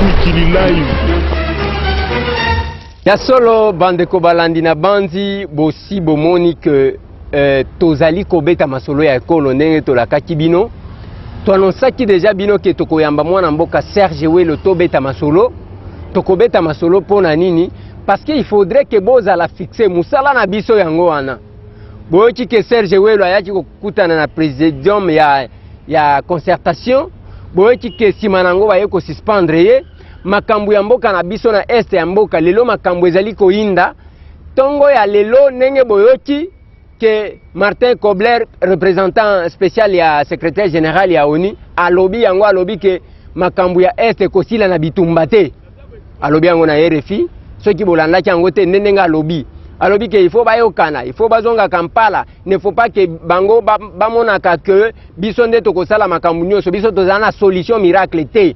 Mikili Live. Ya solo bandeko balandi na banzi bosi bomoni ke eh, tozali kobeta masolo ya ekolo ndenge tolakaki bino toanonsaki deja bino ke tokoyamba mwana mboka Serge Welo tobeta masolo tokobeta masolo mpo na nini parce que il faudrait ke bozala fixe mosala na biso yango wana boyoki ke serge welo ayaki kokutana na presidium ya, ya concertation boyoki ke nsima na yango baye kosuspendre ye makambo ya mboka na biso na este ya mboka lelo makambo ezali koyinda ntongo ya lelo ndenge boyoki ke martin kobler représentant spécial ya secrétaire général ya onu alobi yango alobi ke makambo ya este ekosila na bitumba te alobi yango na rfi soki bolandaki yango te nde ndenge alobi alobi ke il faut bayokana il faut bazonga kampala ne faut pas ke bango bamonaka ba ke biso nde tokosala makambo nyonso biso tozala na solution miracle te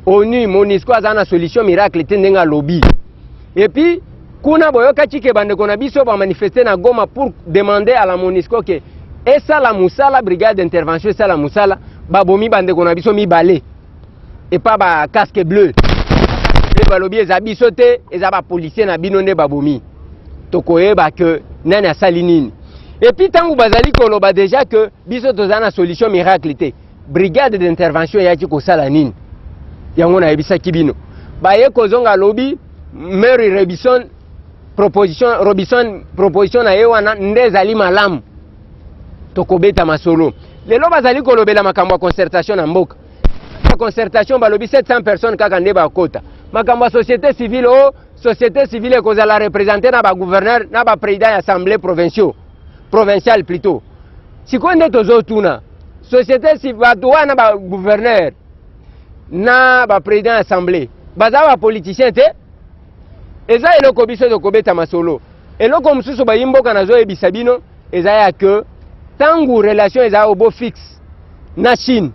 onu monisco azala na solution miracle te ndenge alobi epuis kuna boyokaki ke bandeko na biso bamanifeste na goma pour demander à la monisco ke esala mosala brigade d'intervention esala mosala babomi bandeko na biso mibale epa ba casque bleu nde balobi eza biso te eza bapolisier na bino nde babomi tokoyeba ke nani asali nini epuis ntango bazali koloba deja ke biso toza na solution miracle te brigade d'intervention eyaki kosala nini yango nayebisaki bino baye kozonga lobi mary robison proposition robison proposition na ye wana nde ezali malamu tokobeta masolo lelo bazali kolobela makambo ya concertation na mboka ya concertation balobi 700 personnes kaka nde bakota makambo ya société civile o oh, société civile ekozala représente na bagouverneur na baprésident ya assemblée provinciaux provinciale plutôt sikoyo nde tozotuna société bato wana bagouverneur na baprésident ya assemblée baza bapoliticien te eza eloko biso tokobeta masolo eloko mosusu bayi mboka nazoyebisa bino eza ya que ntango relation eza obo fixe na chine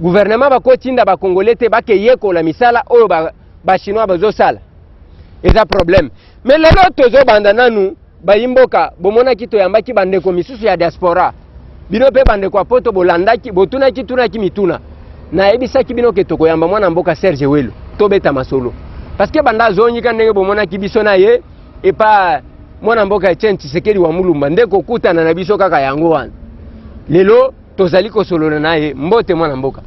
gouvernement bakotinda bakongole te bakeyekola misala oyo bachinois ba bazosala eza problème me lelo tozobanda nanu bayimboka bomonaki toyambaki bandeko misusu ya diaspora bino mpe bandeko ya poto bolandaki botunaki tunaki mituna nayebisaki bino ke tokoyamba mwana mboka serge welo tobeta masolo parce que banda azongika ndenge bomonaki biso na ye epa mwana mboka Etienne Tshisekedi wa Mulumba nde kokutana na biso kaka yango wana lelo tozali kosolola na ye mbote mwana mboka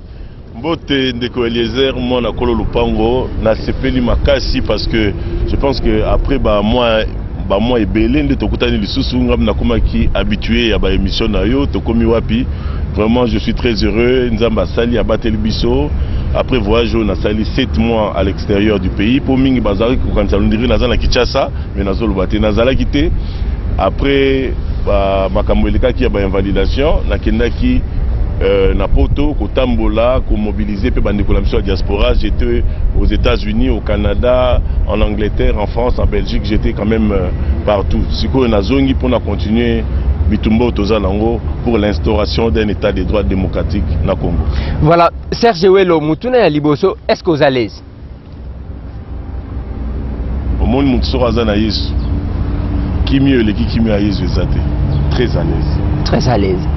mbote ndeko eliezer mwana kolo lupango nasepeli makasi parce que je pense que après ba mois bamwa ebele nde tokutani lisusu ngai nakomaki habitué ya baémission na yo tokomi wapi vraiment je suis très heureux nzambe asali abateli biso après voyage oyo nasali 7 mois exterieur du pays po mingi bazalaki kokanisa londiri naza na Kinshasa mais nazoloba te nazalaki te après ba makambo elekaki ya ba invalidation nakendaki Euh, na poto kotambola komobilize mpe bandeko na biso ya diaspora j'étais aux états-unis au canada en angleterre en france en belgique j'étais quand même euh, partout sikoyo nazongi mpo na continuer bitumba oyo toza nango pour l'instauration d'un état de droit démocratique na congo voilà Serge Welo, mutuna ya liboso, est-ce que oza l'aise? Omoni mutu soko aza na Yesu, kimio eleki kimio ya Yesu eza te. Très à l'aise. Très à l'aise.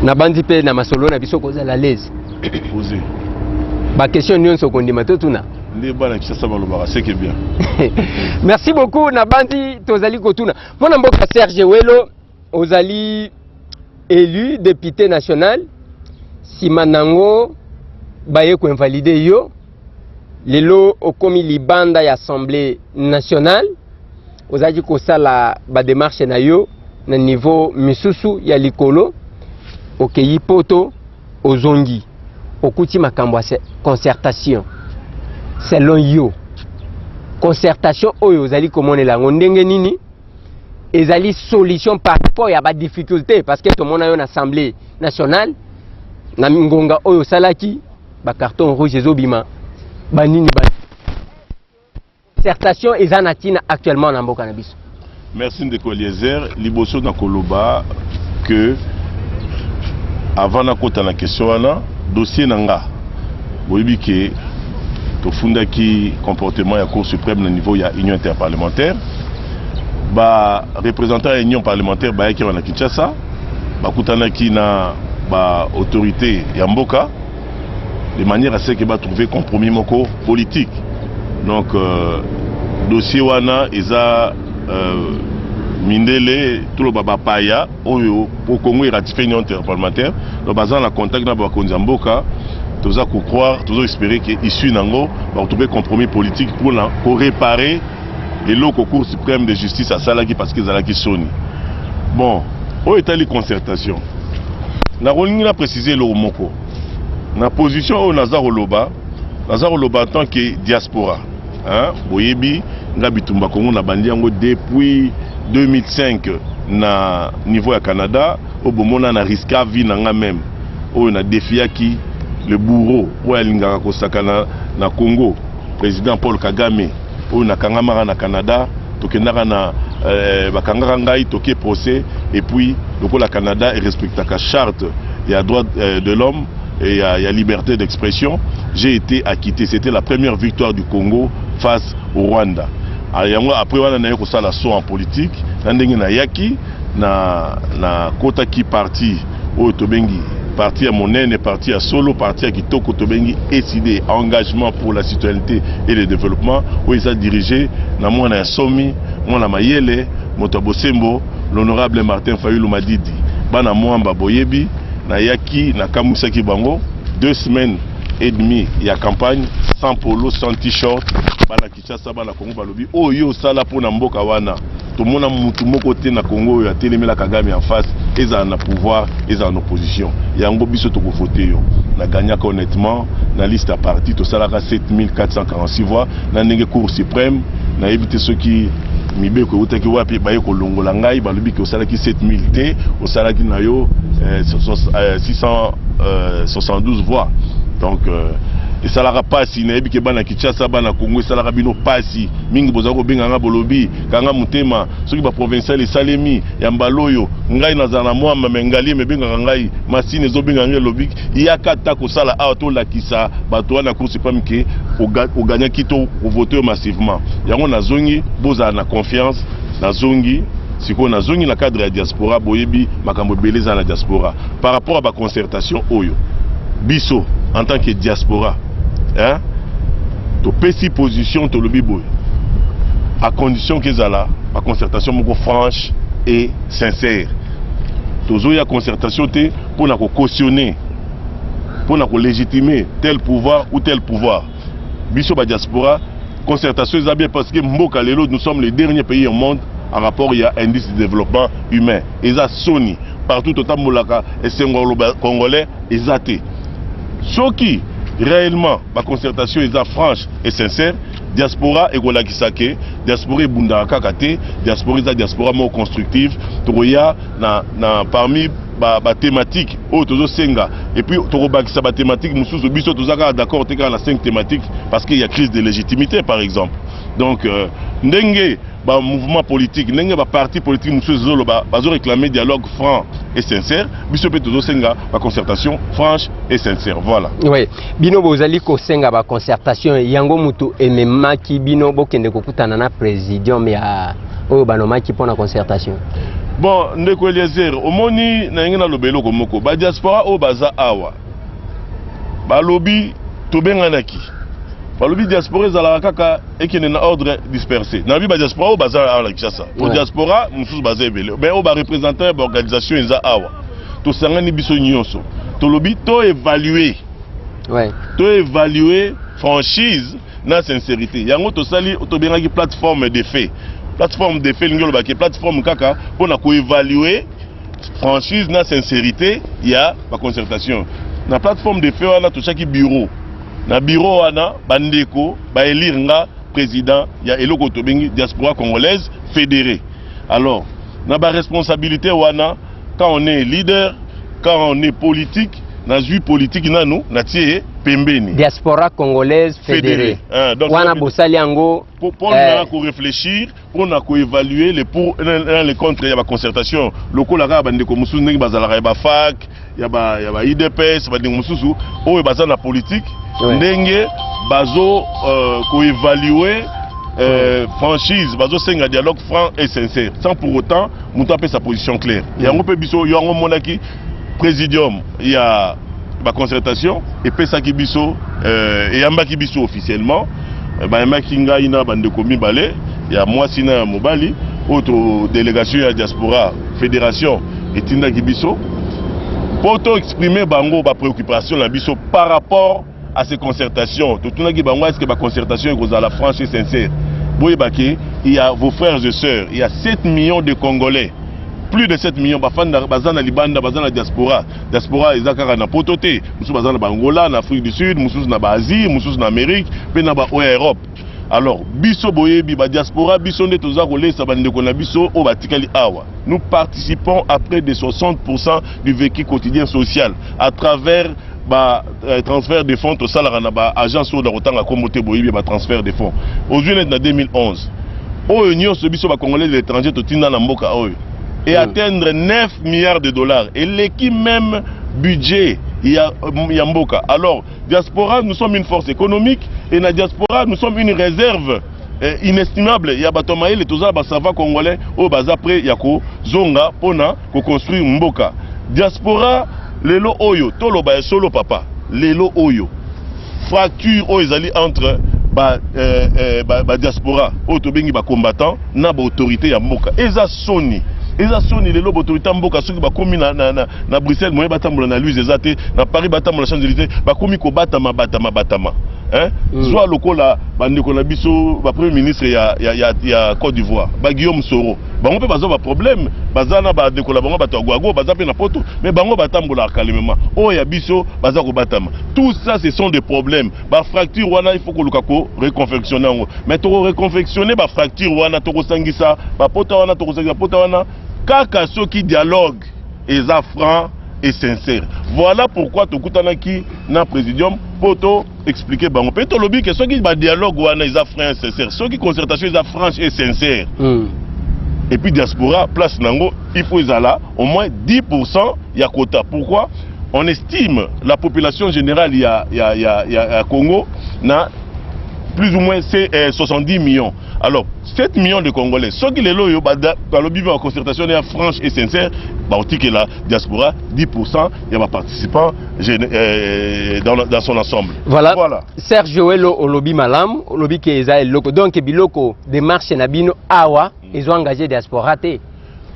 Na bandi pe na masolo na biso kozala l'aise. Oze. Ba question nyonso kondima to tuna. Nde bana Kinshasa balobaka seke bien. Merci beaucoup na bandi tozali kotuna. Mwana mboka Serge Welo Ozali elu depute national, nsima nango baye koinvalide yo, lelo okomi libanda ya Assemblée nationale, ozalaki kosala bademarche na yo na niveau misusu ya likolo, okeyi poto ozongi okuti makambo ya concertation selon yo concertation oyo ozali komonela yango ndenge nini ezali solution par rapport ya ba difficulté parce que tomona yo na assemblée nationale na ngonga oyo osalaki ba carton rouge ezobima banini ba concertation eza na ntina actuellement na mboka na biso merci ndeko eliezer liboso na koloba que avant nakota na question wana dossier na nga boyebi ke tofundaki comportement ya cour suprême na niveau ya union interparlementaire ba représentant ya union parlementaire bayaki awa na kinshasa bakutanaki na ba autorité ya mboka de manière à ce que batrouve compromis moko politique donc euh, dossier wana eza euh, mindele toloba bapaya oyo po congo eratifie union interparlementaire donc baza na contact na bakonzi ya mboka toza kocroire tozo espere ke issue na yango bakotrouve compromis politique mpona koreparer eloko cour suprême de justice asalaki parce que ezalaki soni bon oyo etali concertation nakolingi na précise eloko moko na position oyo naza koloba naza koloba en tant que diaspora hein? boyebi nga bitumba kongo nabandi yango depuis 2005 na niveau ya canada oyo bomona na riska vie na nga meme oyo na defiaki le bourreau oyo alingaka kosakana na congo President Paul Kagame oyo nakangamaka na Canada tokendaka na eh, bakangaka ngai toke procès et puis lokola Canada erespectaka charte ya droit eh, de l'homme et ya, ya liberté d'expression j'ai été acquitté c'était la première victoire du Congo face au Rwanda ah, yango après wana naye kosala saut en politique na ndenge nayaki na nakotaki parti oyo tobengi parti ya monene parti ya solo parti ya kitoko tobengi ECD engagement pour la citoyenneté et le développement oyo eza dirige na mwana ya somi mwana mayele moto ya bosembo l'honorable Martin Fayulu Madidi bana mwamba boyebi nayaki nakamwisaki bango deux semaines et demi ya campagne sans polo sans t-shirt Kinshasa bana Congo balobi oyo yo osala mpo na mboka wana tomona mutu moko te na Congo oyo atelemela Kagame en face ezala na pouvoir ezala na opposition yango biso toko vote yo na gagnaka honnêtement na liste ya parti tosalaka 7446 voix na ndenge cour supreme nayebi te soki mibeko eutaki wapi baye kolongola ngai balobi ke osalaki 7000 te osalaki na yo eh, 672 eh, voix donc eh, esalaka pasi nayebi ke bana Kinshasa bana Congo esalaka bino pasi mingi bozali kobenga nga bolobi kanga motema soki ba provincial esalemi ya mbala oyo ngai nazala na mwamba mais ngaliema ebengaka ngai masini ezobenga ngai elobi yaka ata kosala awa tolakisa bato wana ya cour supreme ke oganyaki to ovote yo massivement yango nazongi bozala na confiance nazongi sikoyo nazongi na cadre ya diaspora boyebi makambo ebele eza na diaspora par rapport ya ba concertation oyo biso en tant que diaspora hein? topesi position tolobi boye à condition kezala ba concertation moko franche et sincère tozoya concertation te mpo na cautionner mpo na légitimer tel pouvoir ou tel pouvoir biso ba diaspora concertation eza bien parce que mboka lelo nous sommes les derniers pays au monde en rapport ya indice de développement humain eza soni partout totambolaka esengo ya congolais eza te Soki réellement ba concertation eza franche et sincère diaspora ekolakisa ke diaspora ebundaka kaka te diaspora eza diaspora moko constructive tokoya na, na parmi ba, ba thématique oyo tozosenga et puis tokobakisa ba thématique mosusu biso toza kaka d'accord te kaka na 5 thématique parce qu'il y a crise de légitimité par exemple donc euh, ndenge ba mouvement politique ndenge ba parti politique mosusu ezoloba bazo réclamer dialogue franc et sincère biso mpe tozosenga ba concertation franche et sincère voilà oui bino bozali kosenga ba concertation yango motu ememaki bino bokende kokutana na présidium ya oyo banomaki mpo na concertation bon ndeko eliezer omoni na yenge naloba eloko moko badiaspora oyo baza awa balobi tobenganaki balobi diaspora ezalaka kaka ekende na ordre disperse nayebi badiaspora oyo baza awa na kinshasa po diaspora mosusu baza ebele me oyo barepresentant ya baorganisation eza awa tosangani biso nyonso tolobi toevalue toevalue franchise na sincérité yango tosali tobengaki plateforme de fait plateforme de fait elingi olobaki plateforme kaka mpo na koevalue franchise na sincerité ya ba concertation na plateforme de feu wana totyaki bureau na bureau wana bandeko baelire nga président ya eloko tobengi diaspora congolaise fédérée alors na ba responsabilité wana quand on est leader quand on est politique nazwi politiki nanu natie ye pembeni diaspora congolaise fédérée wana bosali yango mpo na koreflechir mpo na ko evaluer le pour na le contre ya ba concertation lokola kaka bandeko mosusu ndenge bazalaka ya ba fac ya ba ya ba idps bandeko mosusu oyo baza na politique Ouais. ndenge bazo euh, ko evaluer euh, franchise bazosenga dialogue franc et sincère sans pour autant moto apesa position claire yango mpe biso yango omonaki Presidium ya ba concertation epesaki biso euh, eyambaki biso officiellement euh, bayambaki ngai na bandeko mibale ya mwasi na ya mobali oyo delegation ya diaspora fédération etindaki biso mpo to exprime bango ba préoccupation na biso par rapport à ces concertations totunaki bango est-ce que ba concertation ekozala franche et sincère boyeba ke il y a vos frères et sœurs il y a 7 millions de congolais plus de 7 millions bafanda baza na libanda baza na diaspora diaspora eza kaka na poto te mosusu baza na baangola na afrique du sud mosusu na baasie mosusu na amérique mpe na baoyo ya europe alors biso boyebi badiaspora biso nde toza kolesa bandeko na biso oyo batikali awa nous participons à près de 60 du vécu quotidien social à travers ba euh, transfert de fonds tosalaka na ba agence oyo nakotanga nkombo te boyebi ba transfert de fonds ozwi neti na 2011 oyo nyonso biso bacongolais de l'étranger totinda na mboka oyo e hmm. atteindre 9 milliards de dollars eleki même budget ya, ya mboka alors diaspora nous sommes une force économique et na diaspora nous sommes une réserve eh, inestimable ya bato ya mayele toza na basava congolais oyo baza près ya kozonga mpo na koconstruire mboka diaspora lelo oyo toloba ya solo papa lelo oyo fracture oyo ezali entre ba, eh, eh, ba, ba diaspora oyo tobengi bacombattant na baautorité ya mboka eza soni eza soni lelo baautorité ya mboka soki bakomi na, na, na, na bruxelles moye batambola na luse eza te na paris batambola champs élysée bakomi kobatama batama batama eh? mm. zwa lokola bandeko na biso bapremier ministre ya, ya, ya, ya côte d'ivoire baguillaume soro bango mpe baza baproblème baza na bandeko na bango bato ya gwago baza mpe na poto mais bango batambolaka kalemema oyo ya biso baza kobatama tout ça ce sont des problèmes bafracture wana il faut koluka koreconfectionne yango mais tokoreconfectionne bafracture wana tokosangisa bapota wana tokosangisa bapota wana kaka soki dialogue eza franc et sincère voilà pourquoi tokutanaki na présidium mpo to expliquer bango mpe tolobi ke soki badialogue wana eza franc et sincère soki concertation eza franche et sincère mm. et puis diaspora place nango il faut ezala au moins 10 pourcent ya quota pourquoi on estime la population générale ya, ya, ya, ya, ya congo na plus ou moins 70 euh, millions Alors, 7 millions de Congolais, ceux qui les loyaux, bah, bah, bah, le en concertation est franche et sincère, bah, on dit que la diaspora, 10%, il y a des participants euh, dans, dans, son ensemble. Voilà. voilà. Serge Joëlo, Olobi Malam, Olobi Keza, Loko. Donc, Biloko, démarche Nabino, Awa, mm. ils ont engagé diaspora. Té.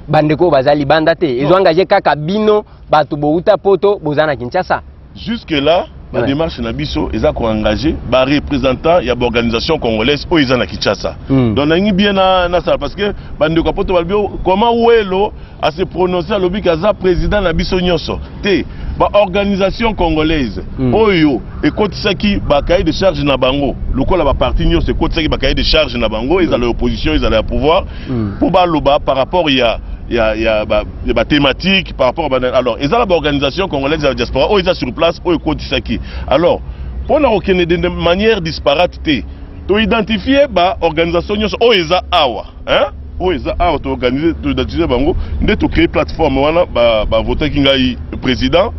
bandeko bazali banda te ezo engage kaka bino bato bouta poto boza na kinshasa Jusque là, la ouais. démarche na biso eza ko engager ba représentants ya organisation congolaise oyo eza na Kinshasa. Mm. Donc nangi bien na na sala parce que bande ko poto balbio comment Welo a se prononcer à lobi kaza président na biso nyoso. Te ba organisation congolaise mm. oyo ekotisaki ba cahier de charge na bango lokola ba parti nyoso ekotisaki ba cahier de charge na bango ezala hmm. opposition ezala ya pouvoir mm. pour baloba par rapport ya ya ya ba ya ba thématique par rapport ba alors eza na ba organisation congolaise ya diaspora oyo eza sur place oyo ekotisaki alors mpo na kokende de manière disparate te to identifier ba organisation nyonso oyo eza awa hein oyo eza awa to organiser to identifier bango nde to créer plateforme wana ba ba votaki ngai président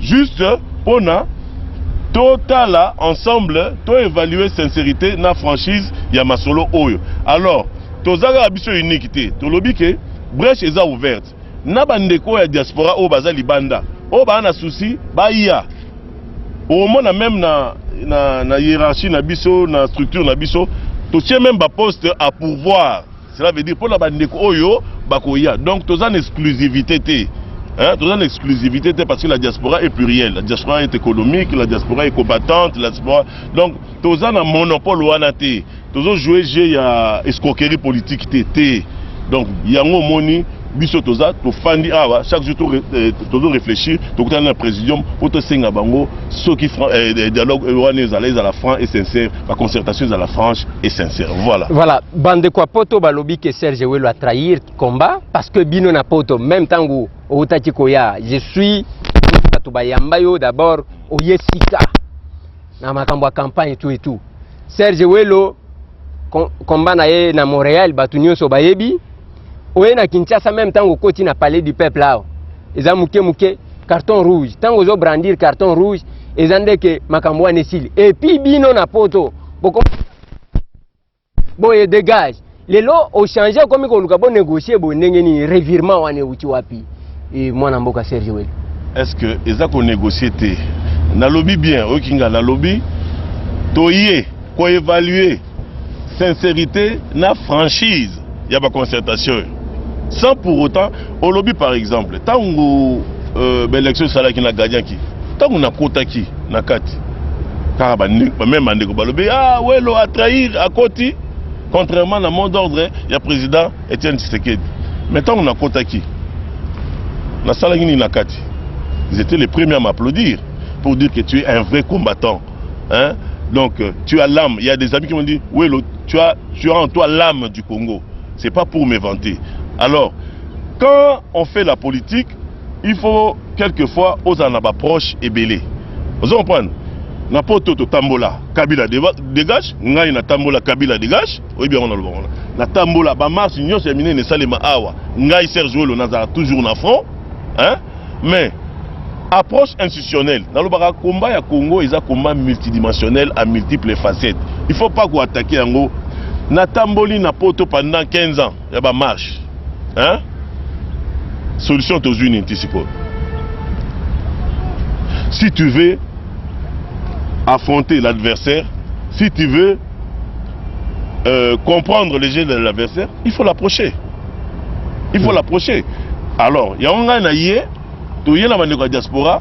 juste mpo na totala ensemble to évaluer sincérité na franchise ya masolo oyo alors tozalaka biso unique te tolobi ke Breche eza ouverte na ba ndeko ya diaspora oyo baza libanda oyo ba na souci baya omona meme na na na hiérarchie na biso na structure na biso totie meme ba poste à pourvoir cela veut dire pona ba ndeko oyo bakoya donc toza na exclusivité te Hein, toza na exclusivité te parce que la diaspora est plurielle la diaspora est économique la diaspora est combattante la diaspora donc toza na monopole wana te tozo jouer jeu ya escroquerie politique te te donc yango omoni biso toza tofandi awa chaque jour tozo eh, to réfléchir tokutana na présidium mpo tosenga bango soki eh, eh, dialogue wana ezala ezala franc et sincère baconcertation ezala franche et sincère voilà voilà bandeko ya poto balobi ke serge welo atrahir combat parce que bino na poto même ntango outaki koya je suis bato bayamba yo d'abord oye sika na makambo ya campagne tout et tout serge welo komba na ye na montréal bato nyonso bayebi oye na kinshasa meme ntango okoti na palais du peuple awa eza moke moke carton rouge ntango ozobrandir carton rouge eza ndeke makambo wana esili epuis bino na poto boko boye dégage lelo ochange okomi koluka bo négocier boye ndenge nini revirement wana euti wapi e, mwana mboka serge wel est ce que eza konégocier te nalobi bien oyoki nga nalobi toye koévalue sincérité na franchise ya baconcertation sans pour autant olobi par exemple ntango euh, baélection esalaki na gadianki ntango nakotaki na kati kaka bameme bandeko balobi ah welo atrahir akoti contrairement na mot d'ordre ya président etienne tshisekedi mais ntango nakotaki nasalaki nini na kati ils étaient les premiers à m'applaudir pour dire que tu es un vrai combattant hein donc euh, tu as l'âme il y a des amis qui m'ont dit oui tu as tu as en toi l'âme du Congo c'est pas pour me vanter alors quand on fait la politique il faut quelquefois aux en approche et belé vous comprenez na poto totambola kabila dégage ngai natambola kabila dégage oyebi yango naloba wana natambola bamarche nyonso ya minene esalema awa ngai serge welo nazala toujours na front hein? mais approche institutionnelle nalobaka combat ya congo eza combat multidimensionnel à multiples facettes il faut pas koattaquer yango natamboli na poto pendant 15 ans ya bamarche hein? solution tozwi nini ti sikoyo si tu veux affronter l'adversaire si tu veux euh, comprendre les jeux de l'adversaire il faut l'approcher il faut l'approcher alors yango ngai na ye toye na bandeko ya diaspora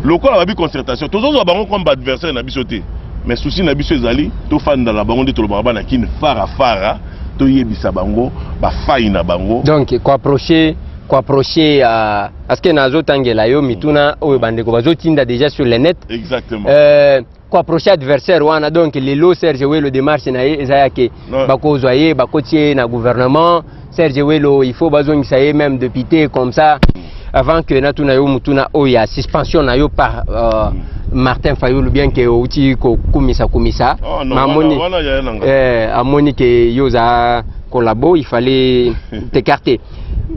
lokola babi concertation tozozwa bango comme baadversaire na biso te mais souci na biso ezali tofanda na bango nde tolobaka bana kini fara fara toyebisa bango bafai na bango donc koapproche koapproche ya uh, parce que nazotangela yo mituna oyo bandeko bazotinda déjà sur le net exactement euh, ko approche adversaire wana donc lelo Serge Welo démarche na ye eza yake bakozwa ye bakoti ye na gouvernement Serge Welo il faut bazongisa ye même député comme ça avant que natuna yo mutuna oyo ya suspension na yo par euh, Martin Fayulu bien que outi ko kumisa kumisa oh, no, mamoni wana, wana eh, amoni que yo za collabo il fallait t'écarter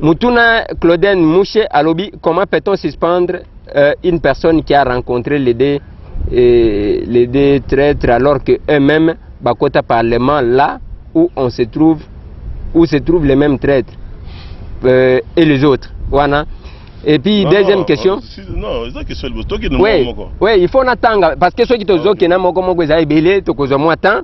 mutuna Claudine Mouche alobi comment peut-on suspendre euh, une personne qui a rencontré les deux et les deux traîtres alors que eux-mêmes bakota parlement là où on se trouve où se trouvent les mêmes traîtres euh, et les autres wana et puis non, deuxième non, question si, non eza question liboso tokende oui, moko oui il faut natanga parce que soki tozokenda moko moko eza ebele tokozwa mwa temps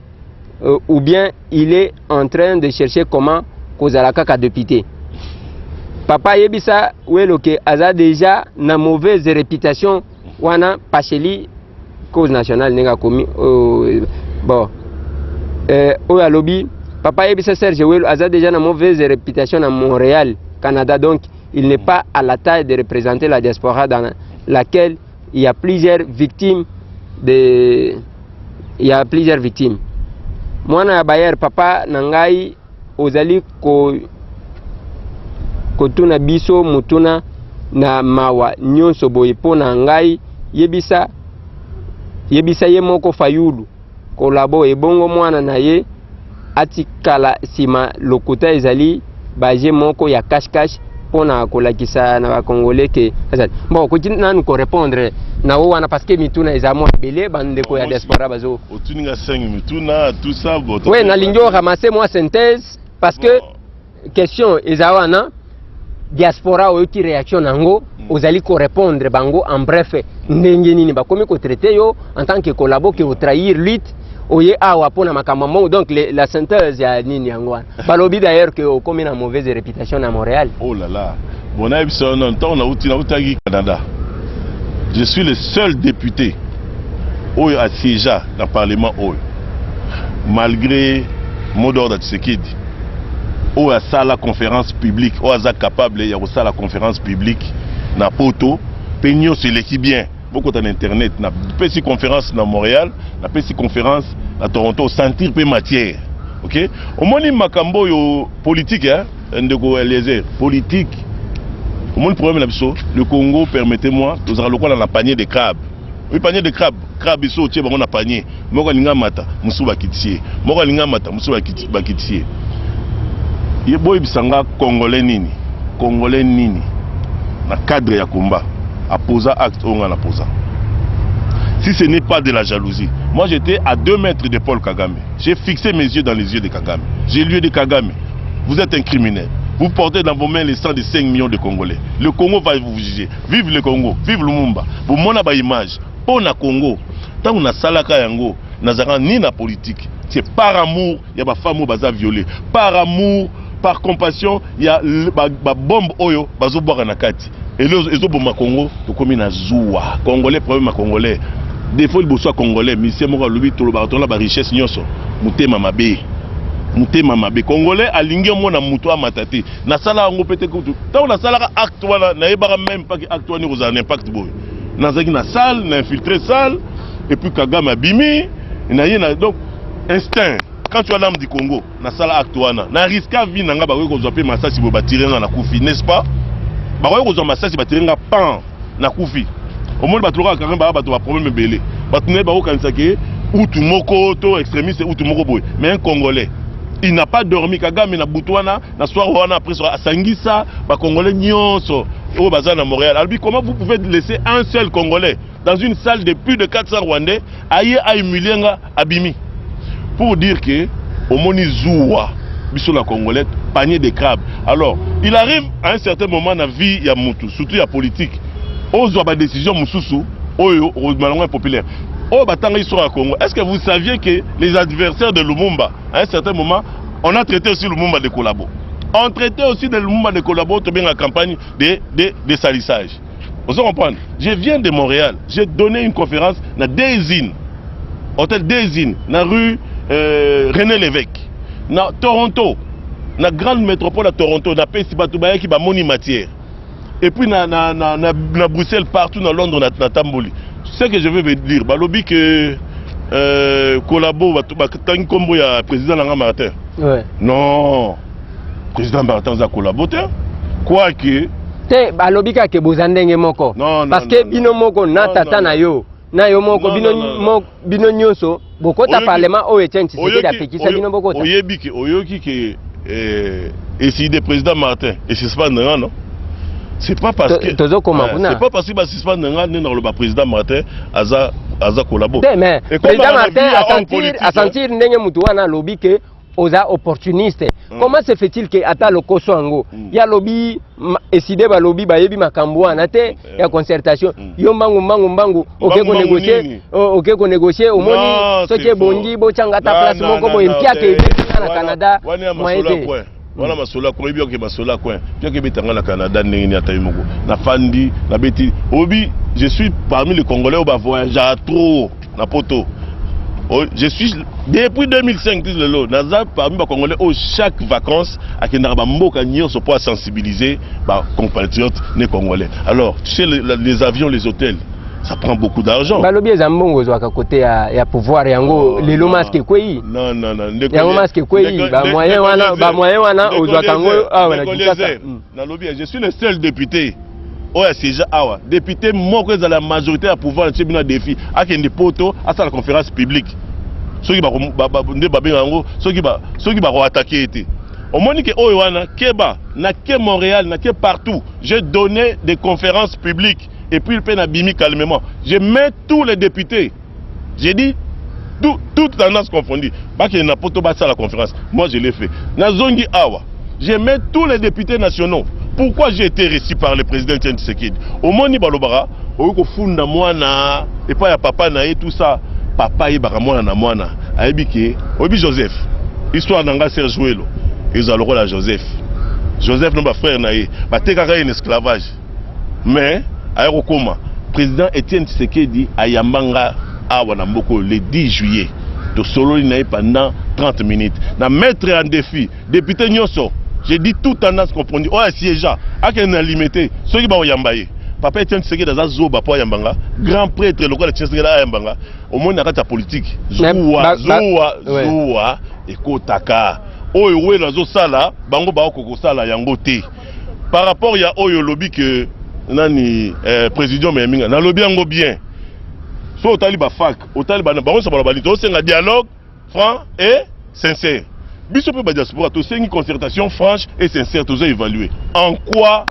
euh, ou bien il est en train de chercher comment kozala kaka député papa yebisa welo ke aza déjà na mauvaise réputation wana pacheli cause nationale ndenge akomi euh, bon euh, oyo alobi papa yebisa serge welo aza déjà na mauvaise réputation na montréal canada donc il n'est pas à la taille de représenter la diaspora dans laquelle il y a plusieurs victimes de il y a plusieurs victimes mwana ya bayer papa na ngai ozali ko kotuna biso motuna na mawa nyonso boye mpo na ngai yebisa yebisa ye moko fayulu collabo ebongo mwana na ye atikala nsima lokuta ezali baje moko ya cash cash mpo na kolakisa na bacongolais ke azali bon okoki nanu korepondre na o wana parce que mituna eza mwa ebele bandeko ya diaspora bazo otuninga 5 mituna tout ça we nalingi oramase mwa synthèse parce que question eza wana diaspora oyoki réaction na yango mm. ozali korépondre bango en bref ndenge nini bakomi kotraite yo en tant que collabo ke otrahir lutte oye awa mpo na makambo yango donc le, la synthèse ya nini yango wana balobi d'ailleurs ke okomi na mauvaise réputation na montréal oh là là bon nayebi biso na ntango nauti nautaki canada je suis le seul député oyo asiégea na parlement oyo malgré mot d'ordre ya tshisekedi oyo asala conférence publique oyo aza capable ya kosala conférence publique na poto mpe nyonso eleki bien bokota na internet napesi conférence na montréal napesi conférence na toronto osentir mpe matière ok omoni makambo oyo politique eh? ndeko eliezer politique omoni problème na biso le congo permettez moi tozalaka lokola na panier de crabe Oui, panier de crabe. Crabe, ils sont au bango na panier. Moko linga mata, musu bakitier. Moko linga mata, musu bakitier. Ye boy bisanga congolais nini? Congolais nini? Na cadre ya combat, a posa acte onga na posa. Si ce n'est pas de la jalousie. Moi, j'étais à deux mètres de Paul Kagame. J'ai fixé mes yeux dans les yeux de Kagame. J'ai lui dit Kagame, vous êtes un criminel. Vous portez dans vos mains les sang de 5 millions de Congolais. Le Congo va vous juger. Vive le Congo, vive Lumumba. Bomona ba image mpo na Congo. Ntango nasalaka yango nazalaka ni na politique. C'est par amour ya ba femme oyo baza viole, par amour, par compassion ya ba, ba bombe oyo bazobwaka na kati elio ezoboma Congo. Tokomi na zuwa congolais, problème ya congolais defo liboso ya congolais. Misie moko alobi tolobaka tona ba richesse nyonso, motema mabe, motema mabe. Congolais alingi omona moto amata te. nasala yango mpe te kutu ntango nasalaka acte wana nayebaka meme paki acte wana ekozala na impact boye nazalaki na salle na infiltre salle epuis kagame abimi naye na donc instinct quand tu as l'âme du congo nasala acte wana na riska vie na ngai bakoki kozwa mpe masasi boye batire ngai na kufi n'est ce pas bakoki kozwa masasi batire ngai pan na kufi omoni bato lokola kaka baa bato ba problème ebele bato naye bakokanisa ke utu moko to extremiste utu moko boye mais un congolais il n'a pas dormi kagame na butu wana na soir wana après soir asangisa ba congolais nyonso oyo baza na montréal alobi comment vous pouvez laisser un seul congolais dans une salle de plus de 400 rwandais aye a humilie nga Abimi pour dire que omoni zuwa biso la congolais panier de crabe alors il arrive à un certain moment na vie ya mutu surtout ya politique ozwa ba décision mususu oyo malonga ya populaire oyo batanga histoire ya Congo est-ce que vous saviez que les adversaires de Lumumba à un certain moment on a traité aussi Lumumba de collabo on traitait aussi de Lumumba de collabo to benga campagne de de de salissage ozo comprendre je viens de montréal j'ai donné une conférence na desine hôtel desine na rue euh, rené l'évêque na toronto na grande métropole ya toronto napesi bato bayaki bamoni matière et puis na, na, na, na, na bruxelles partout na londres natamboli na ce que je veux dire balobi que euh, collabo batangi nkombo ya président na nga martin ouais. non Président Martin aza collabo te. Quoique te balobi kaka ke boza ndenge moko. Non, non, Parce que non, non. bino moko na Non, tata non, na non. yo na yo moko Non, bino non, non, non. mo- bino nyonso bokota Oyoki- parlement oyo Etienne Tshisekedi Oyoki- apekisa oyo- bino bokota. Oyebi ke oyoki ke eh, esi de président Martin et suspendre nga non. C'est pas parce To- que tozokoma Eh, kuna. C'est pas parce que ba suspendre nga nde nakoloba président Martin aza aza collabo. Te mais Et comme président na Martin vie ya homme asentir politique, asentir ndenge mutu wana alobi ke oza opportuniste mm. comment se fait-il que ata lokoso yango mm. ya lobi eside balobi bayebi makambo wana te mm. Eh. ya concertation mm. yo mbangu mbangu mbangu oke konegocie oke konegocie omoni soki ebongi botyanga ata place moko boye mpiaka eh. ebetisa na canada moye te wana masolo ya koyebi oke masolo ya coin pioke ebetanga na canada ndenge nini ata ye moko nafandi nabeti obi je suis parmi les congolais oyo bavoyagea trop na poto Oh, je suis depuis 2005 tis lelo naza parmi bacongolais oyo chaque vacances akendaka bamboka nyonso mpo asensibiliser bacompatriote ne congolais alors tu sais les, les avions les hôtels ça prend beaucoup d'argent balobi eza mbongo ozwaka kote ya, ya pouvoir yango oh, lelo maske ekwei yango maske ekwei bamoyen wana ozwaka yango awa na kinshasa Nalobi ya, je suis le seul depute oyo ya siège awa. Depute moko ezala ya majorité ya pouvoir na tie bino ya defi akende poto asala conférence publique soki ba, ba, ba, nde babenga yango soki ba, soki bako attaquer ete omoni ke oyo wana keba na ke Montréal na ke partout j'ai donné des conférences publiques et puis pe na bimi calmement je mets tous les députés J'ai dit tout, toute tendance confondue. Bakende na poto basala conférence. Moi je l'ai fait. Na zongi awa. J'ai mis tous les députés nationaux. Pourquoi j'ai été reçu par le président Etienne Tshisekedi Omoni balobaka oyo kofunda mwana epai ya papa na ye tout ça. Papa ayebaka mwana na mwana. Ayebi ke oyebi Joseph. Histoire na nga Serge Welo ezala lokola Joseph. Joseph na ba frère na ye batekaka ye na esclavage. mais aya kokoma président Etienne Tshisekedi ayamba nga awa na mboko le 10 juillet tosololi na ye pendant 30 minutes na maître en défi député nyonso j'ai dit tout tendance comprendre oyo asiégea akende na limete soki bakoyamba ye papa Etienne Tshisekedi aza zoba po ayamba nga grand prêtre lokola Tshisekedi ayamba nga omoni na kati ya politique zuwa zuwa zuwa ekotaka oyo welo azosala bango baokokosala yango te par rapport ya oyo olobi ke nani eh, président meyaminga nalobi yango bien so otali bafac otali bango nyonso baloba nini tosenga dialogue franc et sincère biso mpe badiaspora tosengi concertation franche et sincère toza évalue en quoi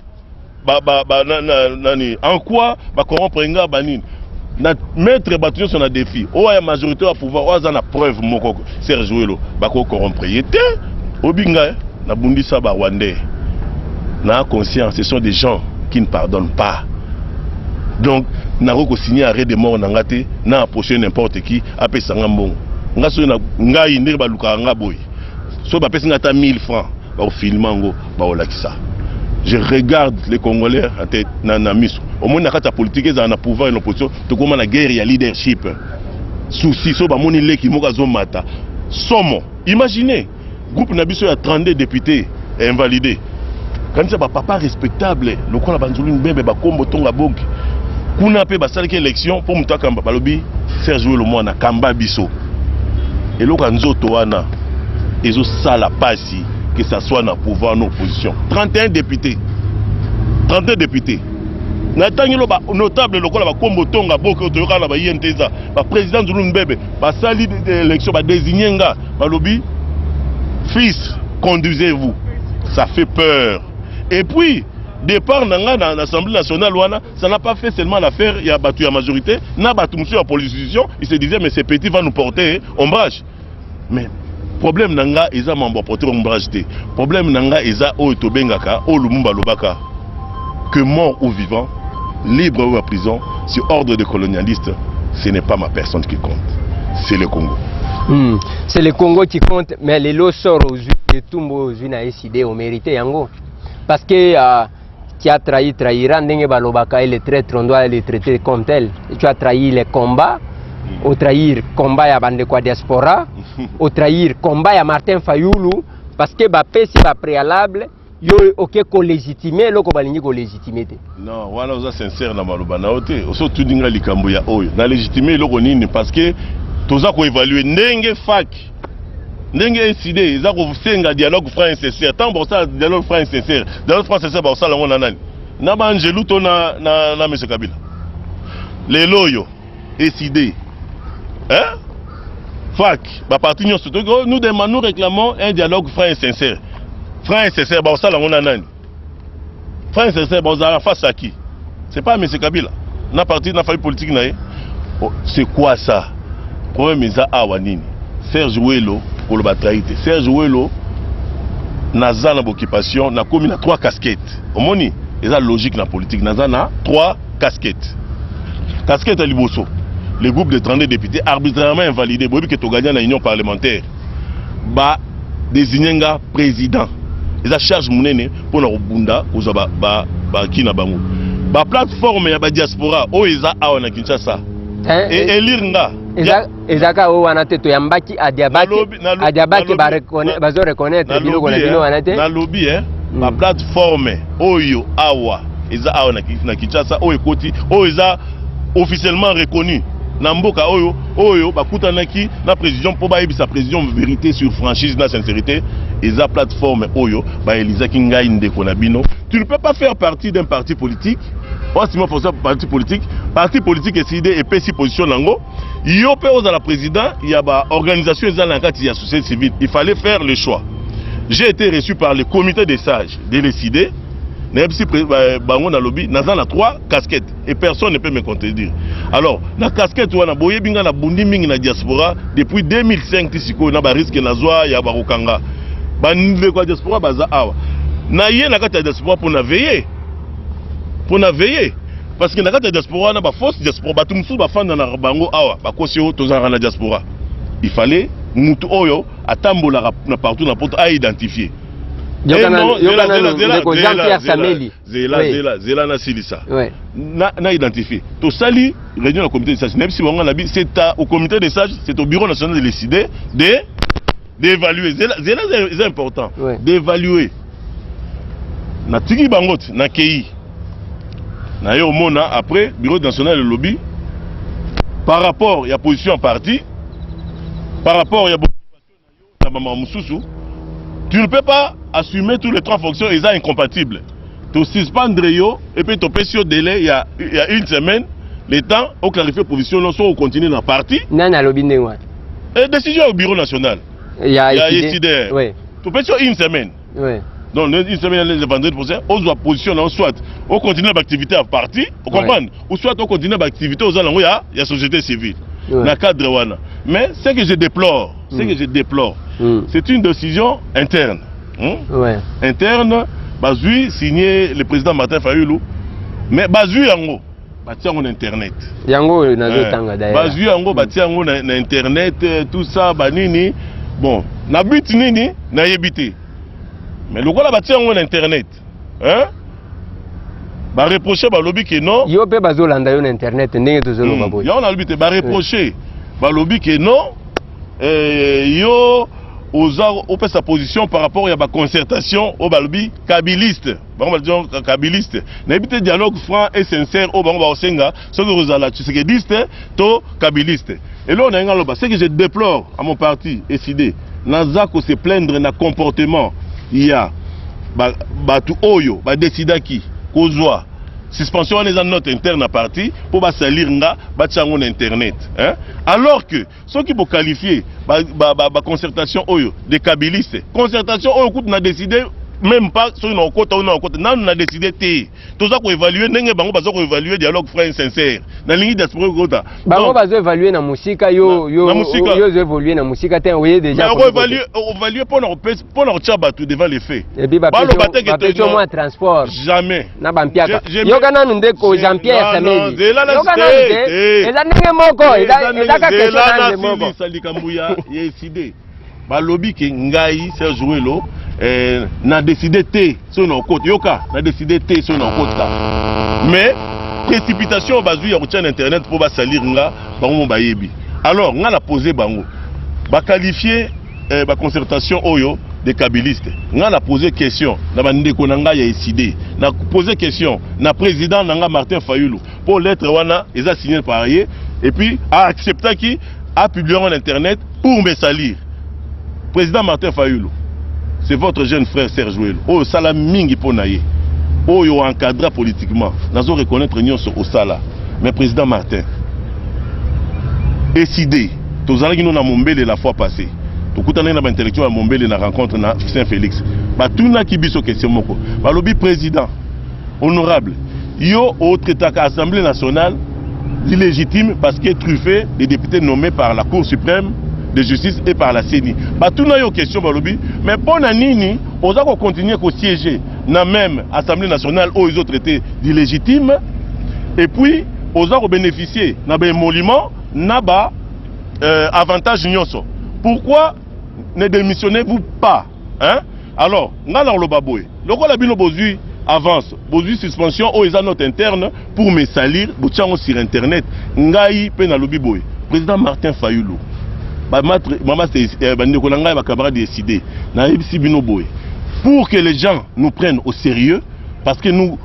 ba, ba, ba, na, na, nani en quoi bacorrompre nga banini na mettre bato nyonso na défi oyo ya majorité ya pouvoir oyo aza na preuve moko serge welo bakoki corrompre ye te obinga nabundisa ba rwandais na conscience ce sont des gens qui ne pardonnent pas donc nakoki kosigne arrêt de mort na nga te na approche n'importe qui apesa nga mbongo nga soki ngai ndenge balukaka nga boye soki bapesi nga ata 1000 francs bakofilma yango baolakisa je regarde les congolais ate na, na miso omoni na kati ya politike ezala na pouvoir na opposition tokoma na guerre ya leadership souci so bamoni leki moko azomata somo imagine groupe na biso ya 32 député invalidé kanisa bapapa respectable lokola banzulu mbebe bakombo tonga bogi kuna mpe basalaki élection mpo moto akamba balobi serge welo mwana kamba biso eloko ya nzoto wana ezosala pasi Ti, que ça soit na pouvoir na opposition. 31 députés. 31 députés. Na tangi lo ba notable lokola ba kombo tonga boke toyoka na ba INTESA, ba président Zulu Mbebe, ba sali élection ba désigner nga, ba lobi fils conduisez-vous. Ça fait peur. Et puis départ na nga na l'Assemblée nationale wana, ça n'a pas fait seulement l'affaire ya batu ya majorité, na batu mususu ya opposition, ils se disaient mais ce petit va nous porter ombrage. mais problème na nga eza mambo ya porter ombrage te problème na nga eza oyo tobengaka oyo lumumba alobaka que mort ou vivant libre ou à prison sur ordre de colonialiste ce n'est pas ma personne qui compte c'est le congo Hmm. C'est le Congo qui compte, mais les lots sortent aux yeux, les tombes aux yeux, au mérité, yango. Parce que euh, qui a trahi trahira ndenge balobaka le traitre on doit le traiter comme tel et tu as trahi le combat mm. au trahir combat ya bandeko ya diaspora au trahir combat ya Martin Fayulu parce que bapesi ba préalable yo oke kolégitime eloko balingi kolégitime te non wana oza sincère na maloba na yo te oso otuni ngai likambo ya oyo na légitime eloko nini parce que toza koévalue ndenge faki ndenge incide eza kosenga dialogue franc sincère ntango bakosala dialogue franc sincère dialogue franc sincère bakosala yango na nani na baangelu to na, na, na mese kabila lelo oyo eside hein? fak baparti nyonso toki oh, nous demandons nous réclamons un dialogue franc et sincère franc et sincère bakosala yango na nani Frère sincère, bon, la face à qui C'est pas M. Kabila. Na parti, na famille politique, na oh, C'est quoi ça Problème, ils awa nini Serge Welo, koloba traite. Serge Welo, naza na occupation, na komi na trois casquettes. Omoni, ils a logique na politique. Naza na trois casquettes. Casquette à Liboso. Le groupe de 32 députés arbitrairement invalidé. Boyebi que tu gagné na union parlementaire. ba désigner nga président eza charge monene mpo na kobunda kozwa baki ba, ba, na bango baplateforme ya badiaspora oyo eza awa na kinshasa eh, e, elire nga ezaka oyo wana te toyambaki adiabaki bazo reconnaitre bino kona bino wana te nalobi e hmm. baplateforme oyo awa eza awa na kinshasa oyo ekoti oyo eza officiellement reconnu na mboka oyo oyo bakutanaki na président mpo bayebisa président vérité sur franchise na sincérité eza plateforme oyo baelizaki ngai ndeko na bino tu ne peux pas faire partie d'un parti politique osima forsa parti politique parti politique eside epesi position na yango yo mpe ozala président ya baorganisation eza na kati ya société civile il fallait faire le choix j'ai été reçu par le comité des sages de leside nayebisi bango nalobi naza na trois casquettes et personne ne peut me contredire alors na casquette wana boyebi nga na bundi mingi na diaspora depuis 2005 ti sikoyo na bariske nazwa ya bakokanga bandeko ya diaspora baza awa naye na kati ya diaspora mpo na veye mpo na veye parce que na kati ya diaspora wana bafausse diaspora bato mosusu bafanda na bango awa bakosi oyo tozalaka na diaspora il fallait motu oyo atambolaka na partout na poto aidentifie yokana yokana ndeko jean pierre sameli Zela, Oui. zela, zela na silisa. Ouais. Na, na identifier. Tosali réunion na comité des sages. Même si bango na bi, c'est à- au comité des sages, c'est au bureau national de décider de d'évaluer. Zela, zela c'est- c'est important. Ouais. D'évaluer. Na tiki bango te, na kei. Na yo mona après bureau national de lobby par rapport ya position ya parti par rapport ya bo- na bamama mosusu tu ne peux pas assumer tous les trois fonctions eza incompatible tosuspendre yo epuis topesi yo delai ya, ya une semaine le temps oclarifie position no soki ocontinue na parti nani alobi ndenge wana e décision ya bureau national ya, ya esidr topesi yo une semaine oui. donc une semaine le vendredi prochain ozwa position nango soit ocontinue baactivité ya parti ocomprendre oui. ou soit ocontinue baactivité oza nango ya, ya société civile oui. na cadre wana mais ce que je déplore ce mm. que je déplore mm. c'est une décision interne hein? oui. interne bazwi signé le président martin fayulu mais bazwi yango batia yango na internet yango oyo nazotanga eh, d'ailleurs bazwi yango batia yango na, na internet eh, tout ça banini bon na but nini nayebi te mais lokola batia yango na internet hein? bareproche balobi ke non yo mpe bazolanda yo na internet ndenge tozoloba hmm. boye yango nalobi te bareproche eh. balobi ke non eh, yo oza opesa position par rapport ya baconcertation oyo balobi kabiliste bango baza kabiliste nayebi te dialogue franc et sincère oyo bango bakosenga soki kozala tshisekediste to kabiliste eloko naye nga loba ce que je déplore à mon parti eside naza ko se plaindre na comportement ya bato oyo badesidaki kozwa suspension wana eza note interne na parti mpo basalir nga batya yango na internet alors que Soki bo qualifier ba, ba, ba, ba concertation oyo de kabiliste, concertation oyo kutu na décider même pas soki nakokota ou nakokota nanu na décider te toza ko évaluer ndenge bango baza ko évaluer dialogue franc sincère na lingi diaspora kota bango bazo évaluer na musika yo yo yo évoluer na musika te oye déjà ko évaluer évaluer pona ko mpo na kotia bato devant les faits Et puis baloba te que bapesi yo mwa transport jamais na bampiaka Je- je- yoka nanu ndeko Je- jean pierre Non, non, samedi zela na- yoka nanu te, te te. eza ndenge moko eza Eza eza kaka ndenge- zela question na nde moko nasilisa likambo ya ya eside balobi ke ngai serge welo eh, na deside te soki naokota yoka na deside te soki naokota mais précipitation oyo bazwi ya kotya na internet mpo basalire nga bango mo bayebi alors nga na pose bango baqualifie eh, ba concertation oyo des kabilistes nga na pose question na bandeko na ngai ya eside na pose question na président na nga martin fayulu mpo lettre wana eza signe par ye et puis aacceptaki apublie yango na internet pour me salir président martin fayulu c'est votre jeune frère serge welo oyo osala mingi mpo na ye oyo oencadra politiquement nazo reconnaître nyonso osala mais président martin eside Tozalaki no na Mombele la fois passee. Tokutanaki na ba intellectuels ya Mombele na rencontre na Saint Felix. Batunaki biso question moko. Balobi president, honorable, yo o traitaka Assemblee nationale d'illegitime parce que truffe des députés nommés par la Cour suprême de justice et par la CENI. Batuna yo question balobi, mais mpo na nini oza ko continuer ko siéger na même Assemblée nationale oyo ezo traiter d'illegitime et puis oza ko bénéficier na ba émoluments na ba euh, avantage nyonso pourquoi ne démissionnez vous pas hein? alors ngai nakoloba boye lokola bino bozwi avance bozwi suspension oyo eza note interne pour me salir botya yango sur internet ngai mpe nalobi boye président martin fayulu eh, bandeko na ngai bacamarade décide nayebisi bino boye pour que les gens nous prennent au sérieux parce que nous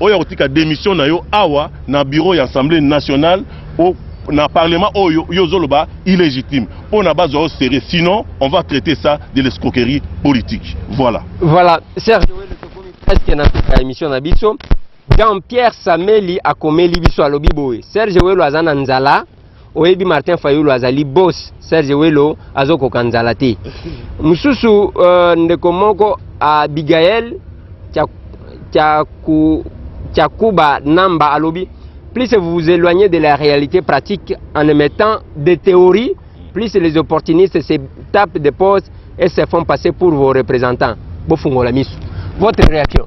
Oya kotika demission na yo awa na bureau ya Assemblée nationale au na parlement oyo yo zoloba illégitime mpo na bazwa yo sérieux sinon on va traiter ça de l'escroquerie politique voilà voilà Serge Wele tokomi presque na suka ya émission na biso Jean-Pierre Sameli akomeli biso alobi boye Serge Welo aza na nzala oyebi martin fayulu azali bos serge welo azokoka nzala te mosusu uh, ndeko moko abigael chakuba namba alobi plus vous vous éloignez de la réalité pratique en émettant des théories plus les opportunistes se tapent des pauses et se font passer pour vos représentants bofungola miso votre réaction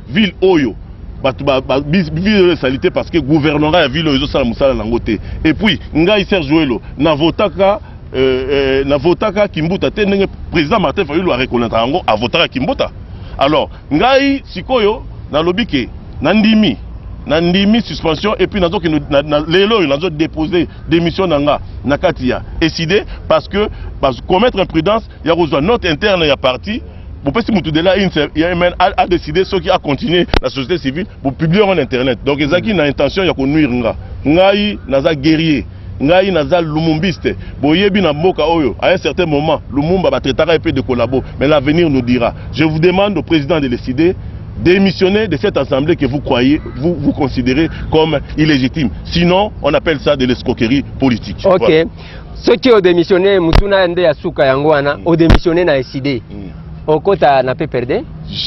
ville oyo bato ville oyo esali te parce que gouvernement ya ville oyo ezosala mosala nango te et puis ngai serge welo navotaka euh, euh, navotaka kimbuta te ndenge président martin fayulu areconnaître yango avotaka kimbuta alors ngai sikoyo nalobi ke nandimi nandimi suspension et puis nazokende na, na, lelo oyo nazo dépose démission na nga na kati ya eside parce que bazo commettre imprudence ya kozwa note interne ya parti bopesi motu dela imn a décide soki a continuer na société civile bopublie yango na internet donc ezalaki na intention ya konuire nga ngai naza guerrier ngai naza lumumbiste boyebi na mboka oyo à un certain moment lumumba batraitaka ye mpe de collabo mais l'avenir nous dira je vous demande au président de décider démissionner de cette assemblée que vous croyez, vous, vous considérez comme illégitime. Sinon, on appelle ça de l'escroquerie politique. Ok. Voilà. soki odemissionne motuna nde ya suka yango wana mm. odemissionne na eside mm. okota na pperde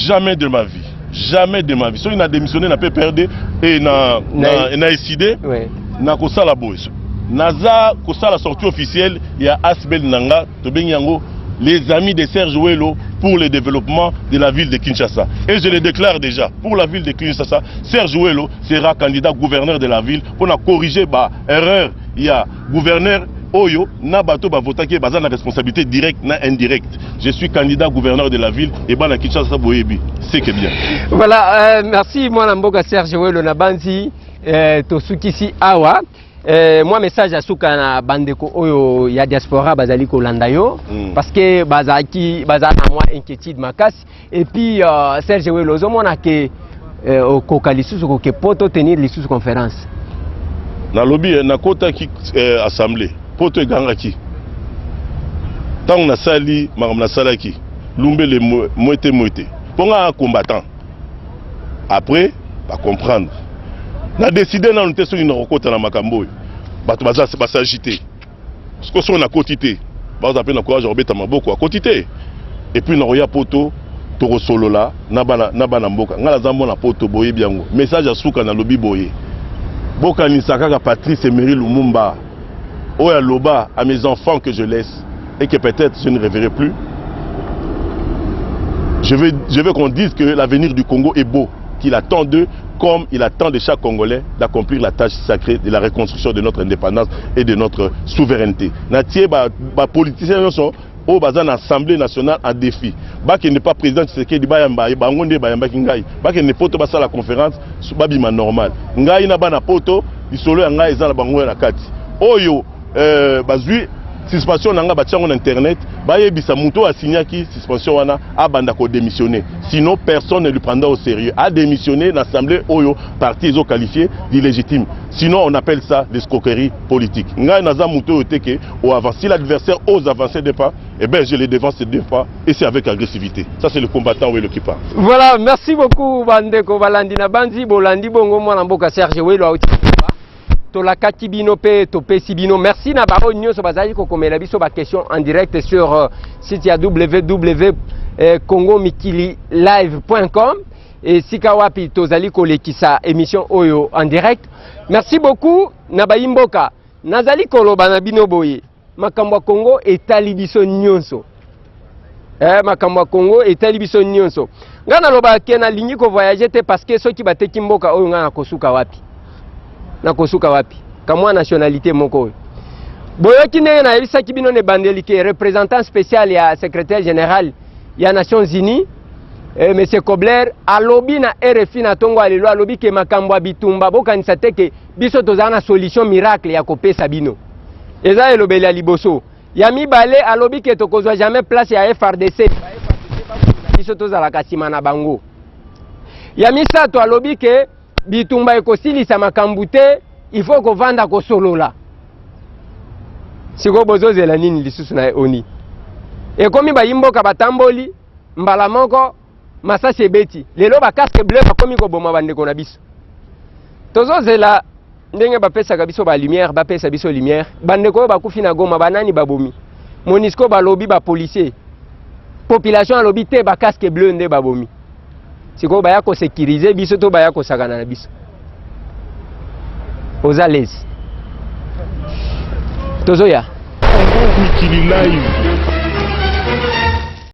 jamais de ma vie jamais de ma vie soki na démissionne na pperde e na, na, na eside ouais. nakosala boye naza kosala sortie officielle ya asbel na nga tobengi yango les amis de Serge Welo pour le développement de la ville de Kinshasa. Et je le déclare déjà, pour la ville de Kinshasa, Serge Welo sera candidat gouverneur de la ville pour corriger bah, erreur il y a Gouverneur oyo na bato bavotaki ye baza na responsabilité directe na indirecte je suis candidat gouverneur de la ville ebana kinshasa boyebi seke bien voilà euh, merci mwana mboka serge welo na banzi euh, tosukisi awa Eh, mwa message ya suka na bandeko oyo ya diaspora bazali kolanda yo mm. parce que bazalaki baza na mwa inquiétude makasi Et puis euh, Serge Welo, ozomona ke euh, okoka lisusu koke poto tenir lisusu conférence. Nalobi eh, nakotaki eh, assemblée poto egangaki ntango nasali makambo nasalaki lumbele mwete mwete mpo ngaa combattant après bacomprendre na décide nanu te soki nakokota na makambo oyo bato baza basagi te siko soki nakoti te baza mpe na courage ya kobeta maboko akoti te epuis nakoya poto tokosolola na bana, na bana mboka ngai naza mwana poto boyebi yango message ya suka nalobi boye bokanisa kaka patrice emery lumumba oyo aloba à mes enfants que je laisse et que peut-être je ne reverrai plus je veux, je veux qu'on dise que l'avenir du congo est beau qu'il attend d'eux comme il attend de chaque Congolais d'accomplir la tâche sacrée de la reconstruction de notre indépendance et de notre souveraineté. Natie ba, ba politiciens nyonso oyo baza na assemblée nationale en défi bakende pa président tshisekedi bayamba ye bango nde bayambaki ngai bakende poto basala conférence babima normal ngai na bana poto lisolo ya ngai eza na bango na kati oyo Euh, bazui suspension na nga batia yango na internet bayebisa moto oyo asignaki suspension wana abanda kodemissionne sinon personne ne lui prendra au sérieux ademissionne na assemblée oyo parti ezoqualifie d'illégitime sinon on appelle ça l'escroquerie politique ngai naza moto oyo te ke oavance si l'adversaire ose avancer de pas eh bien je le devance de pas et c'est avec agressivité ça c'est le combattant welo qui parle voilà merci beaucoup bandeko balandi na banzi bolandi bongo mwana mboka serge welo auti tolakaki bino mpe topesi bino merci na baoyo nyonso bazalaki kokomela biso baquestion en direct sur euh, site ya www euh, congo mikili live.com esika wapi tozali kolekisa émission oyo en direct merci beaucoup na bayimboka nazali koloba na bino boye makambo ya Congo etali biso nyonso eh, makambo ya Congo etali biso nyonso ngai nalobaka ke nalingi kovoyage te parceke soki bateki mboka oyo ngai nakosuka wapi nakosuka wapi kamwa nationalité moko oyo boyoki ndenge nayebisaki bino na ebandeli ke représentant spécial ya secrétaire général ya nations unies eh, monsieur kobler alobi na rfi na ntongo ya lelo alobi ke makambo ya bitumba bokanisa te ke biso tozala na solution miracle ya kopesa bino eza elobeli ya liboso ya mibale alobi ke tokozwa jamais place ya frdc biso tozalaka nsima na bango ya misato alobi ke bitumba ekosilisa makambo te il faut kovanda kosolola sikoyo bozozela nini lisusu na oni ekomi bayimboka batamboli mbala moko masasi ebeti lelo ba casque bleu bakomi koboma bandeko na biso tozozela ndenge bapesaka biso ba lumière bapesa biso lumière bandeko oyo bakufi na goma banani babomi monisco balobi bapolicier population alobi te ba casque bleu nde babomi sikoyo baya kosekirize biso to baya kosakana na biso oza lezi tozoya mikili live